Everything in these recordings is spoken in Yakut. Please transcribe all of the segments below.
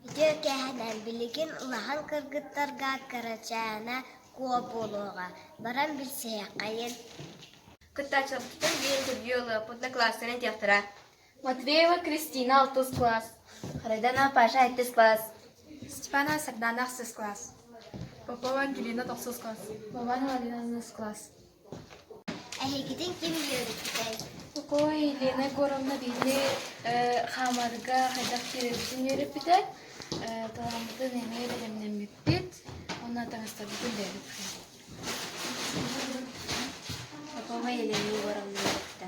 Ити кэһэнэн билигин улахан кыргыттарга кырачаана куо буолуоҕа, баран билсиһиэххэйин Кыттааччыларбытын биир интервью ылыах однокласснары этиэхтэрэ. Матвеева Кристина алтыс класс, Райдана Паша алтыс класс, Степана Сардаана ахсыс класс, Попова Ангелина тохсус класс, Вован Владимировна класс, Эһигитин ким үөрүппүтэй? Ой, Лена Егоровна биһини хаамарга хайдах киирэбитин үөрүппүтэ. Талааммытын эмиэ бэлэмнэммиппит. Уонна таҥастарбытын бэйэбит Поповой Елена Егоровна үөрүттэ.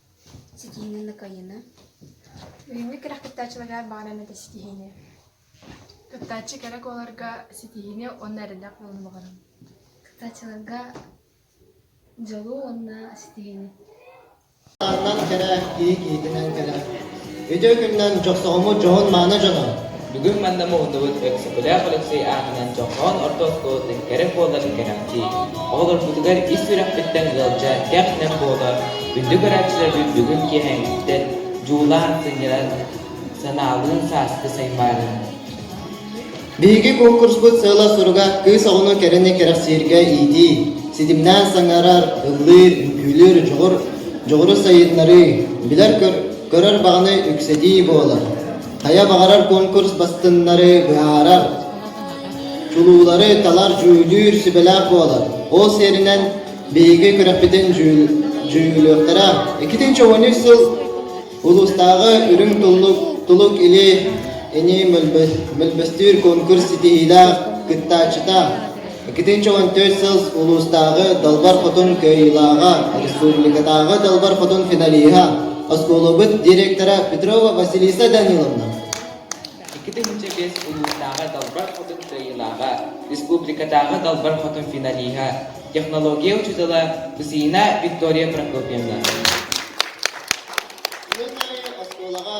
ситиини накайына бүгүҥҥү кэрэхтээччилэргэ баҕаран этэ ситиһиини кыттааччы кэрэ буоларга ситиһиини уонна эрэллээх буолан баҕарабын кыттааччыларга дьолу уонна ситиһиини кэрэ киһи киһитинэн кэрэ Үтүө күнүнэн Дьохсоҕоммут дьоһун-мааны дьоно! Бүгүн манна муһуннубут Өксөкүлээх Алексей аатынан Дьохсоҕон орто оскуолатын кэрэ буоларын кэрэхсии. Оҕолорбутугар ис үрэхпиттэн ыалдьа кэх-нэм буола, үрдүк арааччыларбыт бүгүн киэһээҥҥиттэн дьуулаан, сынньалаан, санаалыын сааскы саймаанын Биһиги куонкурспут сыала-соруга кыыс оҕону кэрэни кэрэхсииргэ иитии, ситимнээн саҥарар, ыллыыр, үҥкүүлүүр, дьоҕур, дьоҕуру сайыннарыы, билэр-көр, көрөр баҕаны үксэтии буолар. Хайа баҕарар куонкурс бастыҥнары быһаарар, чулуулары талар, дьүүллүүр сүбэлээх буолар. Ол сиэринэн биһиги күрэхпитин дьүүл- дьүүллүөхтэрэ. Иккитинчи уонүс сыл Улуустааҕы Үрүҥ туллук, тулук или ини мөлбөстүүр конкурс ситиһиилээх кыттааччыта иккитинчи уон төрт сыл улуустааҕы Далбар Хотун кыайыылааҕа, республикатааҕы Далбар Хотун финалиһа, оскуолабыт директора Петрова Василиса Даниловна Икки тыһыынча биэс улуустааҕы Далбар Хотун кыайыылааҕа, республикатааҕы Далбар Хотун финалиһа, технология учуутала, КУСИНА Виктория Прокопьевна. Оскуолаҕа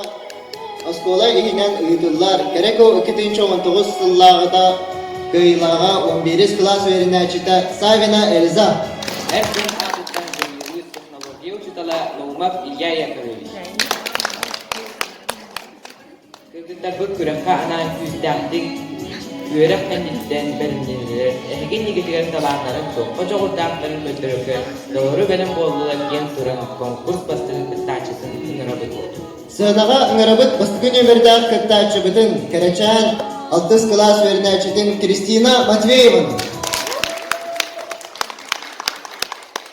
оскуола иһинэн ыытыллар Кэрэко икки тыһыынча он тоҕус сыллааҕыта кыайыылааҕа он биэс кылаас үөрэнээччитэ Савина Эльза. Эр дьон аатыттан дьулуйуулуур технология учуутала Наумов Илья Яковлевич. Кыргыттарбыт күрэххэ анаан күүстээхтик, үөрэх кэнниттэн бэлэмнэнэллэр, эһигин ийгитигэр талааннарын туохха дьоҕурдаахтарын көрдөрөргө доҕору бэлэм буоллулар диэн туран конкурс бастыҥын кыттааччытын ыҥырабыт. Сыанаҕа ыҥырабыт бастакы нүөмэрдээх кыттааччыбытын, кэрэчээн алтыс кылаас үөрэнээччитин Кристина Матвееваны.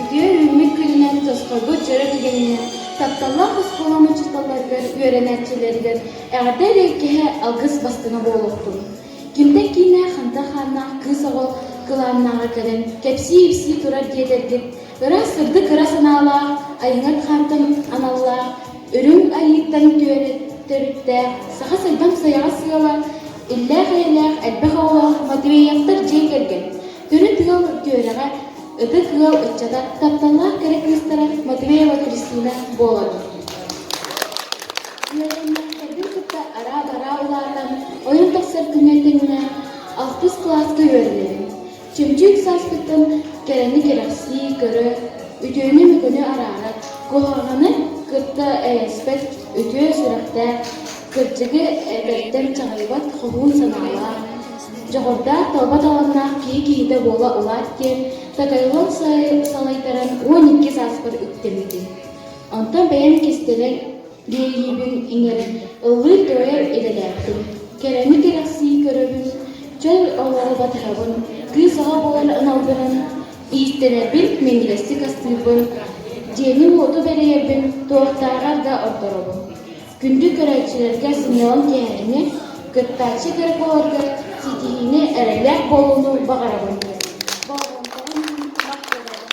Үтүө үүммүт күнүнэн тосхолбут дьоро түгэнинэн тапталлаах оскуолам учууталларыгар, үөрэнээччилэригэр эҕэрдэ эрэйкэһэ алгыс бастыҥа буолуохтун. Кимтэн киинэ хантан хааннаах кыыс оҕо кылааннааҕа кэлэн кэпсии-ипсии турар диэтэргит ыраас сырдык кыра санаалаах айыҥҥыт хаантан аналлаах үрүҥ айыыттан түөрэ төрүттээх саха сайдам сайаҕас сыала Иллээх-эйэлээх элбэх оҕолоох Матвеевтар дьиэ кэргэн, төрүт ыал түөрэҕэ, ытык ыал ыччата, тапталлаах кэрэ кыыстара Матвеева Кристина буоларын. Үөрэннээхтэрбин кытта араа-бараа улаатан, ойон тахсар күҥҥэ тэҥнэ алтыс кылааска үөрэнэбин. Чөмчүүк сааскыттан кэрэни кэрэхсии, көрө, үтүөнү-мөкүнү араарар, куһаҕаны кытта эрэспэт үтүө сүрэхтээх, кырдьыгы этэртэн чаҕыйбат хоһуун санаалаах, дьоҕурдаах талба таланнаах киһи киһитэ буола улаат диэн Такайолор салайтаран уон икки сааспар үктэммитим. Онтон бэйэм кистэлэҥ Диэйиибин иҥэр, ылыы туойар идэлээхпин. Кэрэни кэрэхсии көрөбүн, чөл олору батыһабын, кыыс оҕо буолар аналбынан ииттэнэрбин минньигэстик астыырбын, дьиэни-уоту бэрийэрбин туохтааҕар да ордоробун. Күндү көрөөччүлэргэ сынньалаҥ киэһээни, кыттааччы кэрэ буоларга ситиһиини, эрэллээх буолууну баҕарабын. Болҕомтоҕун мах көрөбүн.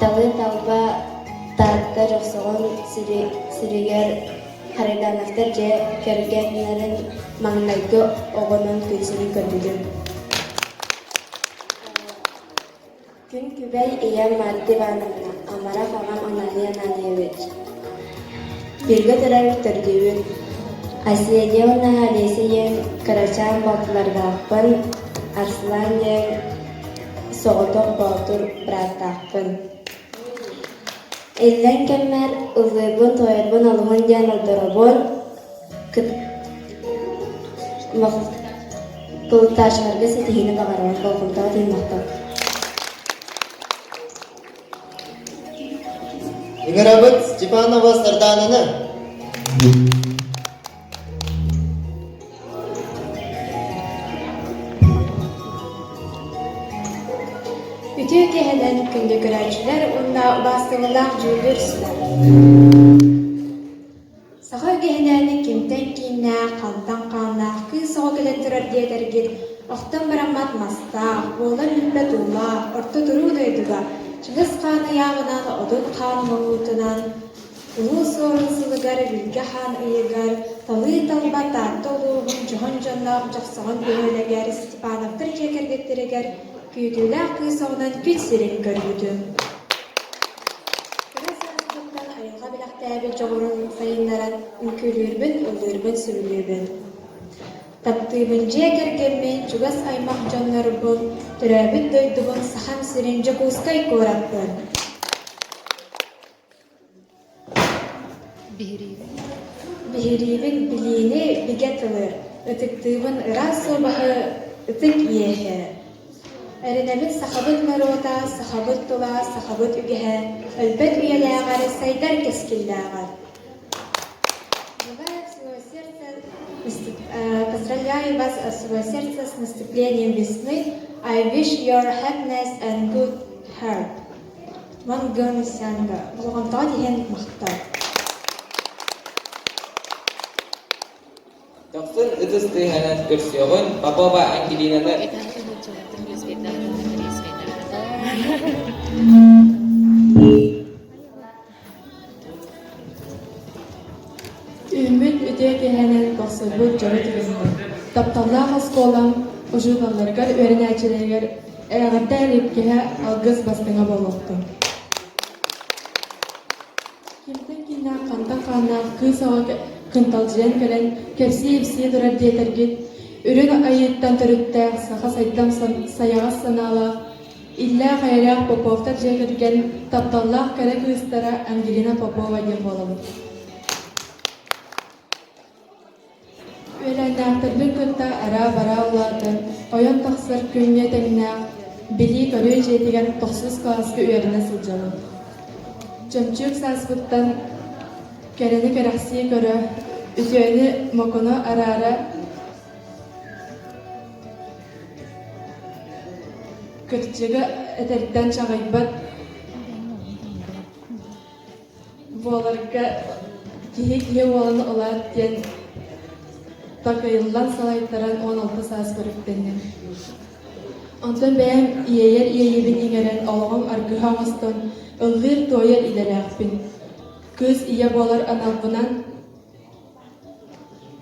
Талы талба тарта дьохсоҕон сиригэр Харитоновтар дьиэ кэргэннэрин маҥнайгы оҕонон күнсирин көрбүтүм Күн күбэй ийэм Марта Ивановна амарах аҕам анаһыйан аанайабыт Бииргэ төрөөн төрдүбүт Оседья уонна Олеся ийэм кырачаан балтылардаахпын Арслан ийэм Соҕотох боотур бырааттаахпын Иллэҥ кэммэр ыллыырбын-тоойорбун алыһын диэн олдоробун Плуташеварга ситиһиини баҕарабын, болҕомтоҕут иһимэхтик Ыҥырабыт Степанова Сардаананы Үтүө киэһэнэн күндү көрөөччүлэр уонна убааскылаах дьүүллүүр сылар! Саха үгэһинэн кимтэн кииннээх, хантан хааннаах кыыс оҕо кэлэн турар диэтэргит охтон бараммат мастаах, буолар-үһүлбэт уулаах, орто туруу дойдуга чыгыс хаан ыйааҕынан, отут хаан муҥуутунан, Улуу Суорун сылыгар Бүлгэ хаан ыйыгар Талыы-талба Таатта улууһун дьоһун дьонноох Дьохсоҕон бөһүөлэгэр Степановтар дьиэ кэргэттэригэр күүтүүлээх кыыс оҕунан күн сирин көрбүтүм. Кыра сааспыттан айылҕа бэлэхтээбит дьоҕурун сайыннаран үҥкүүлүүрбүн, ыллыырбын-сүбүлүүбүн. Таптыыбын дьиэ кэргэммин, чугас аймах дьоннорбун, төрөөбүт дойдубун Сахам сирин Дьокуускай куораппын. Биһириибин билиини бигэ тылы, ытыктыыбын ыраас уобаһы ытык иэһэ. Эрэнэбит сахабыт норуота, сахабыт тыла, сахабыт үгэһэ, өлбөт үйэлээҕэр сайдар кэскиллээҕэр. Желаю своего сердца, поздравляю вас от своего сердца с наступлением весны. I wish your happiness and good health. Мангыны-сянга болҕомтоҕун иһэн махтал Дохсун ытыс тыаһынан көрсүөҕүн, Попова Ангелинаны Үүммүт үтүө киэһэнэн тахсарбыт дьоро түбэстэ. Тапталлаах оскуолам учууталларга, үөрэнээччилэригэр эрэҕирдэ иликкэһэ алгыс бастыҥа буолуохтун. Кимтэн кииннээх, хантан хааннаах кыыс оҕо кынталдьыйан кэлэн кэпсии-ипсии турар диэтэргит, үрүн айыыттан төрүттээх саха сайдам сайаҕас санаалаах Иллээх-эйэлээх Поповтар дьиэ кэргэн тапталлаах кэрэ кыыстара Ангелина Попова диэн буолабыт. Үөлээннээхтэрбин кытта араа-бараа улаатан, ойон тахсар күҥҥэ тэҥнээх, билии-көрүү дьиэтигэр тохсус кылааска үөрэнэ сылдьабын. Чөмчүүк сааспыттан кэрэни кэрэхсии көрө, үтүөнү-мокуну араара, Кырдьыга этэртэн чаҕыйбат буоларга киһи киһи уолун улаат диэн такыйыллан салайтаран уон алта саас көрүктэнним. Онтон бэйэм иэйэр иэйэбин иҥэрэн олоҕум аргыһа оҥостон ыллыыр туойар идэлээхпин. Кыыс ийэ буолар аналбынан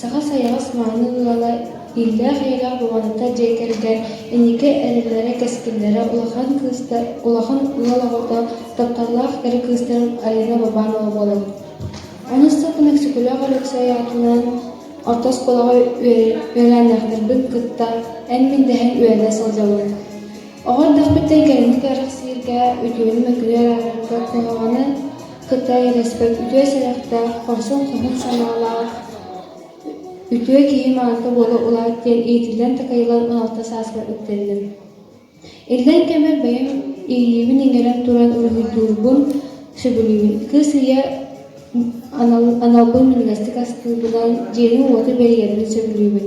Саха сайаҕас мааны ыала, ииллээх ийэлээх Бубаната дьиэ кэргэн инники эрэлэрэ-кэскиллэрэ улахан кыыста, улахан ыал оҕото, тапталлаах эр кыыстарын Алина Бабанова буолабыт. Ону устата Мэксикөлөөх Өлөксөй аатынан орто оскуолаҕа үөлээннээхтэрбин кытта эн-мин дэһэн үөрэнэ сылдьабын. Оҕо эрдэхпиттэн кэлимник кэрэхсииргэ, үтүөнү-мөкүнү эрээри кыһалҕаны Кытай элэспэт үтүө сэрэхтээх, хорсун хоһун санаалаах, үтүө киһи маҥата буола улаат диэн иитиллэн такайылар уналта сааспар үктэнним. Иллэҥ кэммэр бэйэм иилиибин иҥэрэн туран уруһуйдуурбун сөбүлүүбүн. Кыыс ийэ анал, аналбын минньигэстик аскыыбынан, дьиэбин-уоту бэрийэрбин сөбүлүүбүн.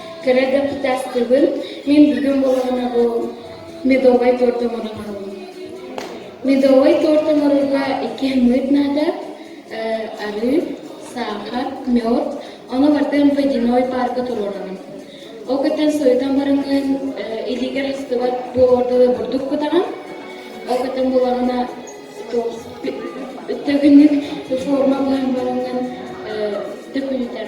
Кэрэ дьокутааттыгын мин бүгүн буолаҕына бу медовай торт оҥорон аҕаллым. Медовай торт оҥорорго икки мыыт наада э, арыы, саахар, мед. Ону бартан водяной паарка туруораным. Ол кытта сойтан барыҥын илигер хастыбат бу ордуга бурдук кутаҕын. Ол кытта буолаҕына төгүннүк форма булан барыҥын төкүнүтэр.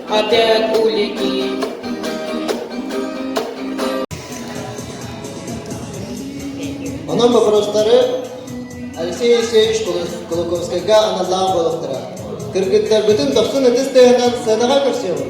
Отель улики Онон бопоростары Алексей Алексеевич Кулаковскайга аналлаах буолуохтара. Кыргыттарбытын тохсун ытыс тыаһынан сценаҕа көрсүөҕүҥ.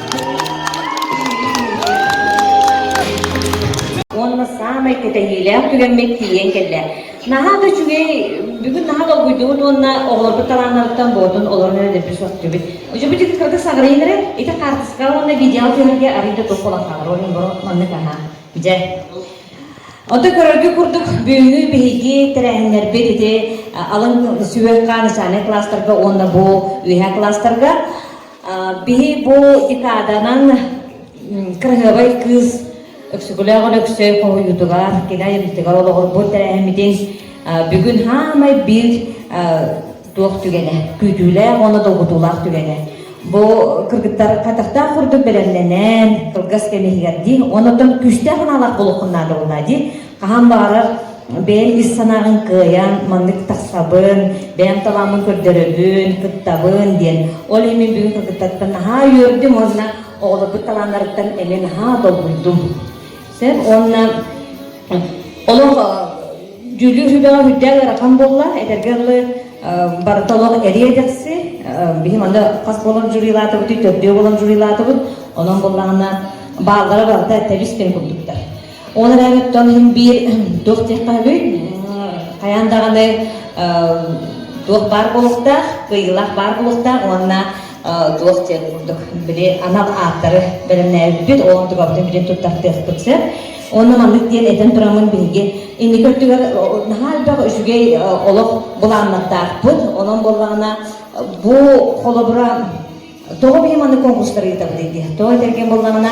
уонна саамай кэтэһиилээх түгэммин тиийэн кэллэ. Наһаа да үчүгэй, бүгүн наһаа долгуйдубут уонна оҕолорбут талааннарыттан боотун олорон өнөрбү сөхтүбүт. Өчөбүт кырга саҕырыйынары, ити карточка уонна видео көрөргө арыйда туох болахаҕар орун боро маннык аһаа. Дьэ. Онто көрөргө курдук бүгүҥҥү биһиги тэрээһиннэрбит ити алын сүбэх хаан начальнай класстарга уонна бу үөһэ класстарга Биһи бу декаданан кырыһыабай кыыс Өксүкүлээх Өлөксөй хоһуйуутугар, кини айымньытыгар олоҕурбут тэрээһиммитин бүгүн хаамай биир туох түгэнэ, күүтүүлээх уонна долгутуулаах түгэнэ. Бу кыргыттар хатахтаах курдук бэлэмнэнэн, кылгас кэм иһигэр дии, оннуттан күүстээх аналаах булукхуннаан дылына дии, хаһан баҕарар бэйэҥ ис санааҕын кыайан маннык тахсабын, бэйэм талааммын көрдөрөбүн, кыттабын диэн. Ол иһин бүгүн кыргыттарбын наһаа үөрдүм уонна оҕолорбут талааннарыттан эмиэ наһаа долгуйдум. Сөп уонна олох дьүүллүүр сүбэҕэ үрдээн ыарахан буолла, этэргэ дылы барыта олох эриэ дэхси. Биһи манна хас буолан жюрилаатыбыт, төрдүө буолан жюрилаатыбыт. Онон буоллаҕына бааллара барыта тэбис кэм курдуктар. Ол эрээри оттон иһин биир туох диэххэ үһүй? Хайаан даҕаны туох баар буолуохтаах, кыайыылаах баар буолуохтаах уонна туох диэн курдук били анал ааттары бэлэмнээбиппит, ол онтукабытын билин туттартыахпыт сөп. Онно маннык диэн этэн турамын биһиги инники өттүгэр наһаа элбэх үчүгэй олох былааннаттаахпыт. Онон буоллаҕына бу холобура тоҕо бии маннык конкурстар ыытабыт дии. Тоҕо этэргэ буоллаҕына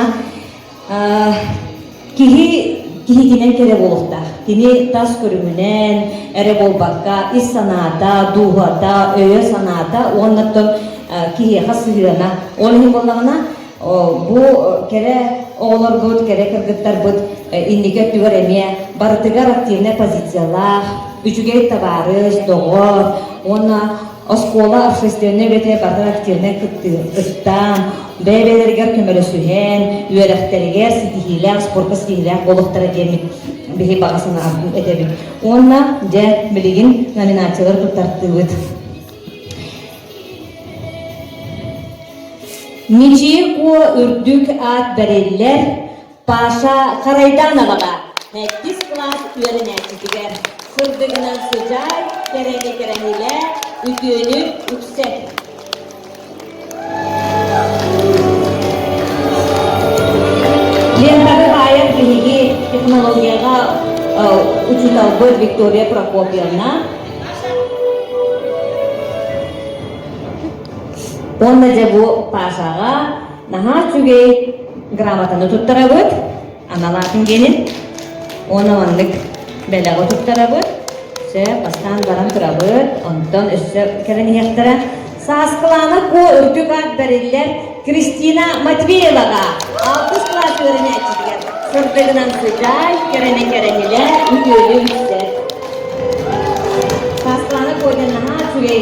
Киһи киһитинэн кэрэ буолуохтаах. Кини тас көрүҥүнэн эрэ буолбакка, ис санаата, дууһата, өйө-санаата уонна киһиэхэ сыһыана. Ол иһин буоллаҕына, бу кэрэ оҕолорбут, кэрэ кыргыттарбыт инники өттүгэр эмиэ барытыгар активнай позициялаах, үчүгэй табаарыс, доҕор уонна Оскуола общественнай үлэтэ барҕа активнай кыттыы ыстаан, бэйэ-бэйэлэригэр көмөлөсүһэн, үөрэхтэригэр ситиһиилээх, спорка ситиһиилээх буолуохтара диэммит биһи баҕа санаан этэбит. Уонна, дьэ, билигин номинациялары туттартыыбыт. Ничии Куо үрдүк аат бэриллэр Паша харайдаан аҕала мэттис кылаас үөрэнээччитигэр сырдыгынан сыдьаай кэрэни кэрэһилэ үтүөнү үксэ лентаны таайан биһиги технологияҕа учууталбыт Виктория Прокопьевна уонна дьэ бу Пашаҕа Наһаа үчүгэй грамотаны туттарабыт, анал атын генин уона маннык бэлэҕи туттарабыт. Сөп, бастаан баран турабыт, онтон өссө кэлэн иһиэхтэрэ. Сааскылаана Ко үрдүк аат бэриллэр Кристина Матвееваҕа алтыс кылаас үөрэнээччитигэр сырдыгынан сыдьаай, кэрэнэ кэрэнилэ үтүөлүү үксэр. Сааскылаана Ко диэн наһаа үчүгэй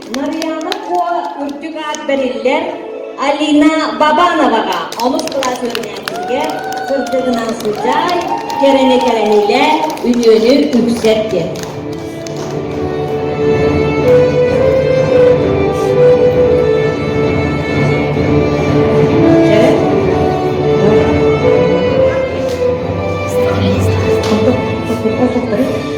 Нарыйаана Куола үрдүк аат бэриллэр Алина Бабановаҕа олус кылаас үөрэнээччитигэр сырдыгынан сылдьай, кэрэни-кэрэниилээн үтүөнү үксэр диэн. Дьэ,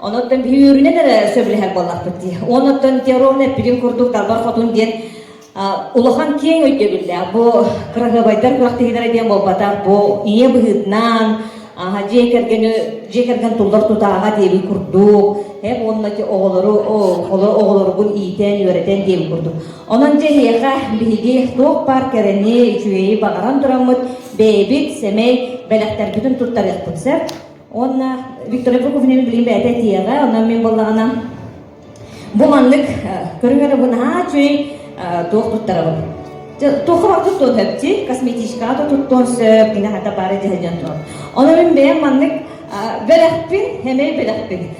Оноттон биһи үөрүнэн эрэ сөбүлэһэр буоллахпыт дии. Оноттон Теорон эппитин курдук Талбар Хотун диэн улахан киэҥ өйдөбүллээх. Бу кыраһыабайдар күрэхтэһиилэрэ диэн буолбатах. Бу ийэ быһыытынан дьиэ кэргэни дьиэ кэргэн туллар тутааҕа диэбит курдук эп уонна оҕолору оҕолоругун иитэн үөрэтэн диэбит курдук онон дьэ эһиэхэ биһиги туох баар кэрэни үчүгэйи баҕаран тураммыт бэйэбит сэмэй бэлэхтэрбитин туттарыахпыт сөп Уонна Виктория Прокуфиневна билигин бэйэтэ этиэҕэ, онон мин буоллаҕына бу маннык көрүҥ эрэ бу наһаа үчүгэй туох туттарабын. Туохха туттуон сөпсі, косметичкаға да туттуон сөп, кини хата бары дьаһайдьан турар. Онон мин бэйэм маннык бэлэхпин, эмэй бэлэхпин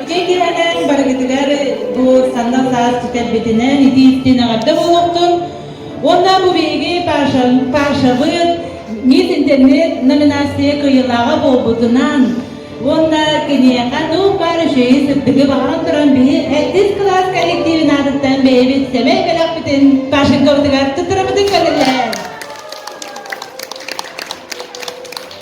Үчүгэй киһилэрин барыгытыгар бу саҥа саас кэтэрбитинэн итииттин аҕарда буолуохтун. Уонна бу биһиги Пашабыт МИД интернет номинация кыйылаҕа буолбутунан уонна киниэхэ нук баар үчүгэйи сырдыгы баҕаран туран биһи алтыс кылаас коллективин аатыттан бэйэбит сэмэй бэлэхпитин Пашенковтугар туттарабытын көрүллэр.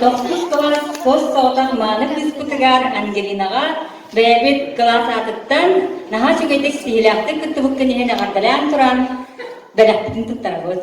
Тохтус бөҕө хос соҕотох мааны кыыспытыгар Ангелинаҕа бэйэбит кылаас аатыттан наһаа үчүгэйдик сиһилээхтик кыттыбыккын иһин эҕэрдэлээн туран бэлэхпитин туттарабыт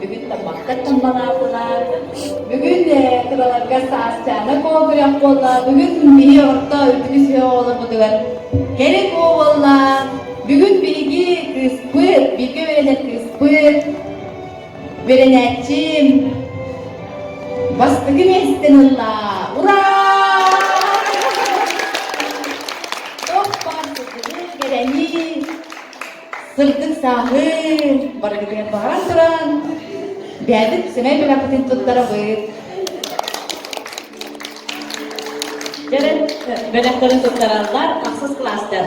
бүгүн таммаккаттан балаапылаар, бүгүн э, кыраларга саасчаана куогурах буолла, бүгүн биһи орто үрдүкүс үһө оҕолорбутугар кэрик буолла, бүгүн биһиги кыыспыт, бииргэ үөрэтэр кыыспыт, үөрэнээччим бастакы миэстэн ылла, ура! Тох баар сытыны, кэрэни, Сырдык сааһыы барыгытыгар баран туран бэйэбит сэмэй бэлэхпитин туттара быт. Кэрэн бэлэхтэрин туттараллар, ахсыс класстар.